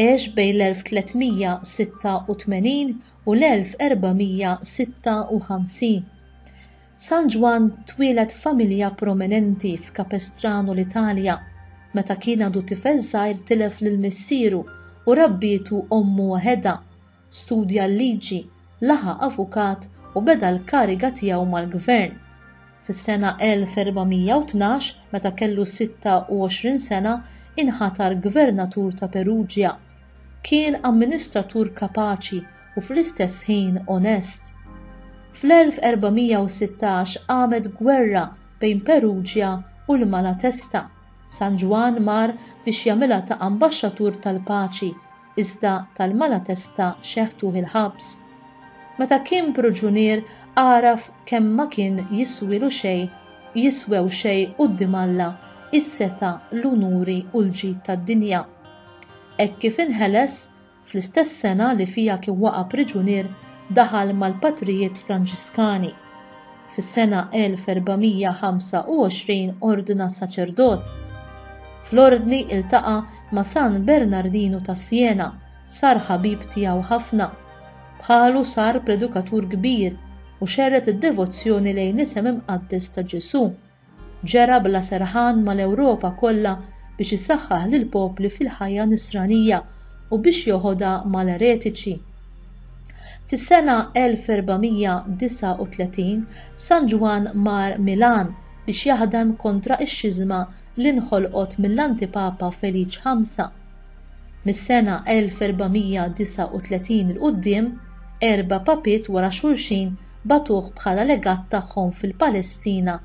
għex bejn l-1386 u l-1456. San Ġwann twieled f'familja prominenti f'Capestrano l-Italja. Meta kien għadu tifel żgħir tilef lil missieru u rabbietu ommu waħedha. Studja l-liġi, laħaq avukat u beda l-kariga tiegħu mal-gvern. Fis-sena 1412, meta kellu 26 sena, inħatar gvernatur ta' Perugia. Kien amministratur kapaċi u fl-istess ħin onest. Fl-1416 qamet gwerra bejn Perugia u l-Malatesta. San Ġwann mar biex jagħmilha ta' ambaxxatur tal-paċi iżda tal-Malatesta xeħtuh il-ħabs. Meta kien pruġunier għaraf kemm ma kien jiswielu xejn jiswew xejn quddiem Alla s-setgħa, l-unuri u l-ġid tad-dinja. Hekk kif inħeles, fl-istess sena li fiha kien waqa' priġunier daħal mal-Patrijiet Franġiskani. Fis-sena 1425 ordna saċerdot. Fl-ordni iltaqa' ma' San Bernardinu ta' Siena, sar ħabib tiegħu ħafna. Bħalu sar predukatur kbir u xerred id-devozzjoni lejn l-isem imqaddes ta' Ġesù. Ġera bla serħan mal-Ewropa kollha biex isaħħaħ lill-popli fil-ħajja Nisranija u biex joħodha mal-eretiċi. Fis-sena 1439, San Ġwann mar Milan biex jaħdem kontra x-xiżma li nħolqot mill-Antipapa Feliċ Ħamsa. Mis-sena 1439 'l quddiem, erba' papiet wara xulxin bagħtuh bħala legat tagħhom fil-Palestina,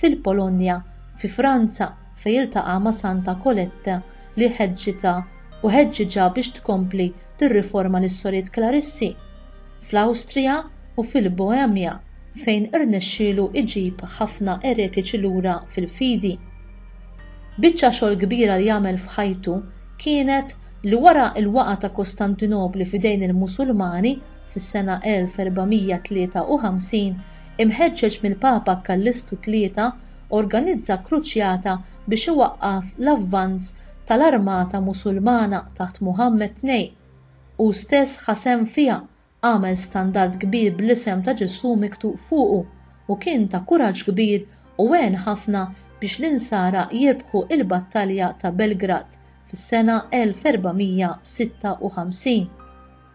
fil-Polonja, fi Franza fejn iltaqa' ma' Santa Colette li ħeġġitha u ħeġġiġha biex tkompli tirriforma lis-Sorijiet Klarissi, fl-Awstrija u fil-Boemja fejn irnexxielu jġib ħafna eretiċi lura fil-fidi. Biċċa xogħol kbira li għamel f'ħajtu kienet li wara l-waqgħa ta' Kostantinopli f'idejn il-Musulmani, fis-sena 1453, imħeġġeġ mill-Papa Kallistu Tlieta, organizza kruċjata biex iwaqqaf l-avvanz tal-armata Musulmana taħt Muħammad Tnej. Hu stess ħa sehem fiha, għamel standard kbir bl-isem ta' Ġesù miktub fuqu, u kien ta' kuraġġ kbir u għen ħafna biex l-Insara jirbħu l-Battalja ta' Belgrad fis-sena 1456.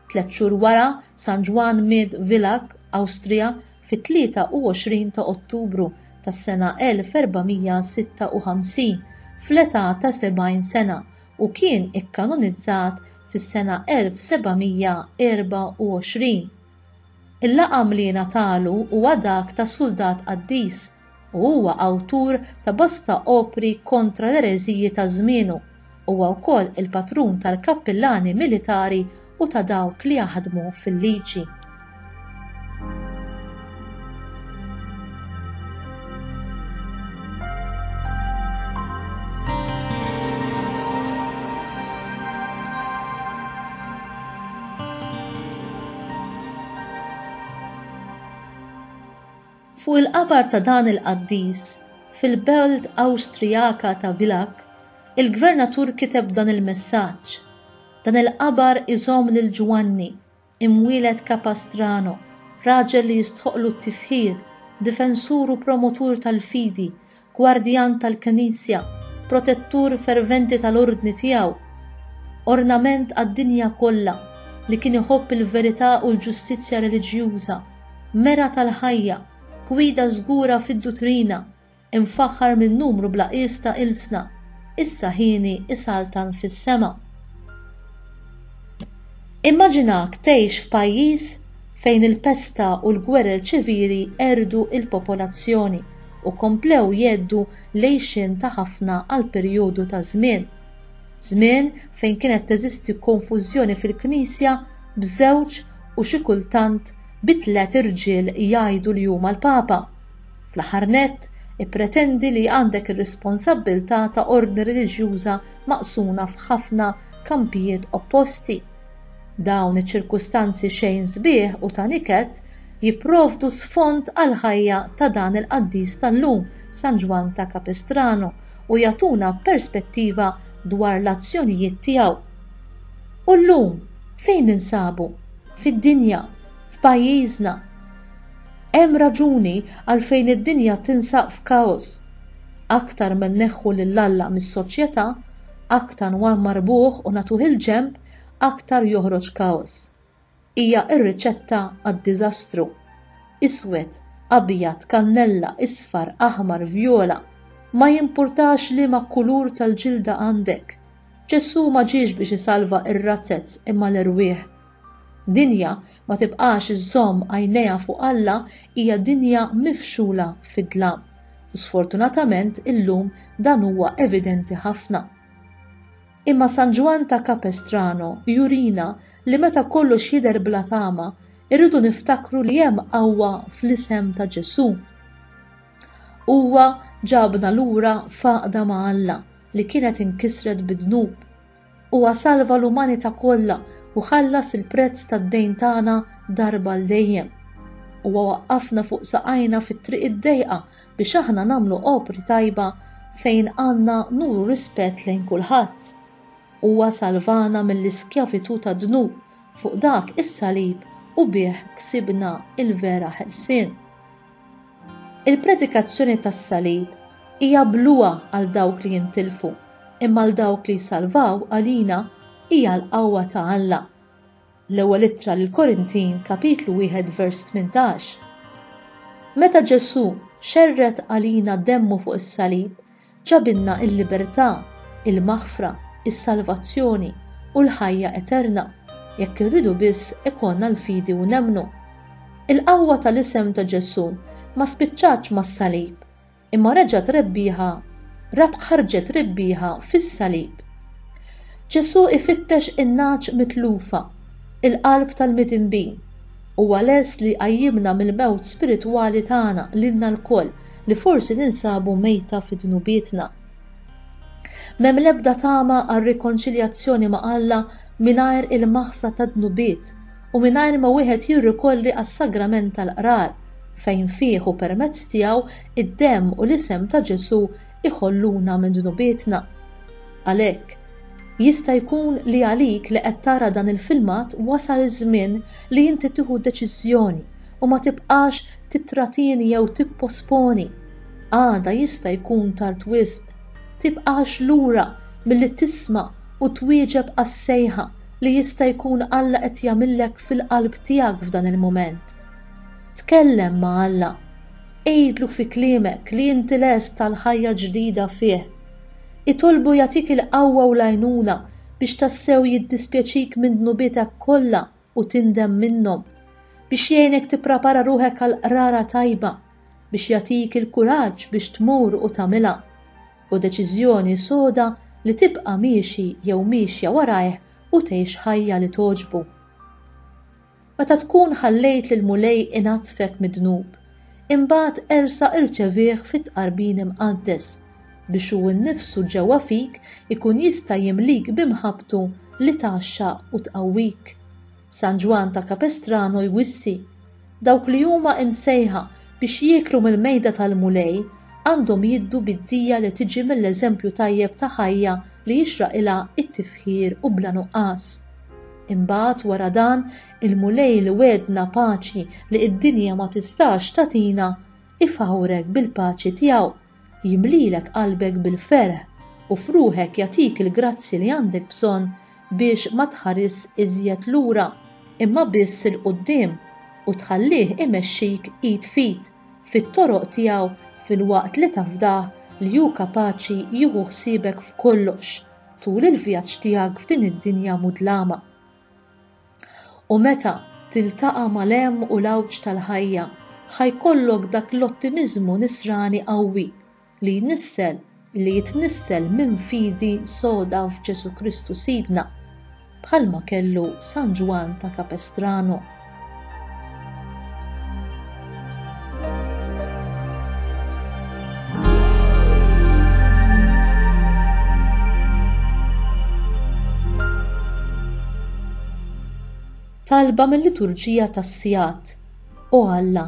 Tliet xhur wara, San Ġwann miet Villach, Awstrija, fit-23 ta' Ottubru tas-sena 1456, fl-età ta' 70 sena, u kien ikkanonizzat fis-sena 1724. Il-laqam li ngħatalu huwa dak ta' suldat qaddis, u huwa awtur ta' bosta opri kontra l-ereżiji ta' żmienu. Huwa wkoll il-patrun tal-kappillani militari u ta' dawk li jaħdmu fil-liġi. Fuq il-qabar ta' dan il-qaddis, fil-belt Awstrijaka ta' Villach, il-gvernatur kiteb dan il-messaġġ, Dan il-qabar iżomm lil Ġwanni, imwieled Capastrano, raġel li jistħoqqlu t-tifħir, difensur u promotur tal-fidi, gwardjan tal-Knisja, protettur ferventi tal-Ordni tiegħu, ornament għad-dinja kollha, li kien iħobb il-verità u l-ġustizzja reliġjuża, mera tal-ħajja, gwida żgura fid-duttrina, imfaħħar minn numru bla qies ta' ilsna, issa hieni isaltan fis-sema. Immaġinak tgħix f'pajjiż fejn il-pesta u l-gwerer ċivili qerdu l-popolazzjoni, u komplew jgħeddu l-għixien ta' ħafna għal perjodu ta' żmien. Żmien fejn kienet teżisti konfużjoni fil-Knisja b'żewġ u xi kultant bi tliet irġiel jgħidu li huma l-Papa. Fl-aħħar nett, ippretendi li għandek ir-responsabbiltà ta' ordni reliġjuża maqsuna f'ħafna kampijiet opposti. Dawn iċ-ċirkustanzi xejn sbieħ u ta' niket jipprovdu sfond għall-ħajja ta' dan il-qaddis tal-lum, San Ġwann ta' Capistrano, u jagħtuna perspettiva dwar l-azzjonijiet tiegħu. U llum, fejn ninsabu? Fid-dinja. F'pajjiżna. Hemm raġuni għalfejn id-dinja tinsab f'kaos. Aktar ma nneħħu lil Alla mis-soċjetà, aktar ma nmarrbuh u nagħtuh il-ġenb, aktar joħroġ kaos. Hija r-riċetta għad-diżastru. Iswed, abjad, kannella, isfar, aħmar, vjola, ma jimpurtax liema kulur tal-ġilda għandek. Ġesù ma ġiex biex isalva r-razzez imma l-erwieħ. Dinja ma tibqax iżżomm għajnejha fuq Alla hija dinja mifxula fid-dlam, u sfortunatament illum dan huwa evidenti ħafna. Imma San Ġwann ta' Capestrano jurina li meta kollox jidher bla tama, irridu niftakru li hemm qawwa fl-isem ta' Ġesù. Huwa ġabna lura f'għaqda ma' Alla li kienet inkisret bid-dnub. Huwa salva l-umanità kollha u ħallas il-prezz tad-dejn tagħna darba għal dejjem. Huwa waqqafna fuq saqajna fit-triq id-dejqa biex aħna nagħmlu opri tajba fejn għandna nuru rispett lejn kulħadd. Huwa salvana mill-iskjavitù tad-dnub fuq dak is-salib u bih ksibna l-vera ħelsien. Il-predikazzjoni tas-salib hija bluha għal dawk li jintilfu, imma għal dawk li jsalvaw għalina hija l-qawwa ta' Alla. L-Ewwel Ittra lill-Korintin, kapitlu wieħed vers tmintax, Meta Ġesù xerred għalina demmu fuq is-salib, ġabilna l-libertà, il-maħfra, is-salvazzjoni, u l-ħajja eterna, jekk irridu biss ikollna l-fidi u nemmnu. Il-qawwa tal-isem ta' Ġesù ma spiċċatx mas-salib. Imma reġgħet rebbieħa, rab ħarġet rebbieħa fis-salib. Ġesù ifittex in-nagħaġ mitlufa, il-qalb tal-midinbin. Huwa lest li jqajjimna mill-mewt spiritwali tagħna lilna lkoll li forsi ninsabu mejta fi dnubietna. M'hemm l-ebda tama għar-rikonċiljazzjoni ma' Alla mingħajr il-maħfra tad-dnubiet u mingħajr ma wieħed jirrikorri għas-sagrament tal-qrar, fejn fih u permezz tiegħu d-demm u l-isem ta' Ġesù jħolluna minn dnubietna. Għalhekk, jista' jkun li għalik li qed tara dan il-filmat wasal iż-żmien li inti tieħu deċiżjoni u ma tibqax tittratieni jew tipposponi. Għada jista' jkun tard wisq. Tibqax lura milli tisma' u twieġeb għas-sejħa li jista' jkun Alla qed jagħmillek fil-qalb tiegħek f'dan il-mument. Tkellem ma' Alla. Għidlu fi kliemek li inti lest għall-ħajja ġdida fih. Itolbu jagħtik il-qawwa u l-għajnuna biex tassew jiddispjaċik minn dnubietek kollha u tindem minnhom, biex jgħinek tipprapara ruħek għall-qrara tajba, biex jagħtik il-kuraġġ biex tmur u tagħmilha. Hu deċiżjoni soda li tibqa' miexi jew miexja warajh u tgħix ħajja li togħġbu. Meta tkun ħallejt lill-Mulej inaddfek mid-dnub, imbagħad ersa' irċevih fit-Tqarbin Imqaddes, biex Hu nnifsu ġewwa fik ikun jista' jimlik b'imħabbtu li tgħaxxaq u tqawwik. San Ġwann ta' Capestrano jwissi. Dawk li huma imsejħa biex jieklu mill-mejda tal-Mulej għandhom jiddu bid-dija li tiġi mill-eżempju tajjeb ta' ħajja li jixraqilha t-tifħir u bla nuqqas. Imbagħad wara dan, il-Mulej li wegħedna paċi li d-dinja ma tistax tagħtina, ifawwrek bil-paċi tiegħu. jimlilek qalbek bil-ferħ u f'ruħek jagħtik il-grazzji li għandek bżonn biex ma tħarisx iżjed lura, imma biss 'il quddiem, u tħallih imexxik id f'id fit-toroq tiegħu filwaqt li tafdah li hu kapaċi jieħu ħsiebek f'kollox tul il-vjaġġ tiegħek f'din id-dinja mudlama. U meta tiltaqa' mal-hemm u l-għawġ tal-ħajja, ħa jkollok dak l-ottimiżmu nisrani qawwi li jnissel li jitnissel minn fidi soda f'Ġesù Kristu Sidna, bħalma kellu San Ġwann ta' Capestrano. talba mill-liturġija tas-sigħat. O Alla,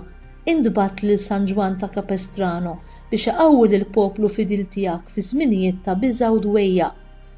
intbagħat lil San Ġwann ta' Capestrano biex iqawwi lill-poplu fidil tiegħek fi żminijiet ta' biża' u dwejjaq.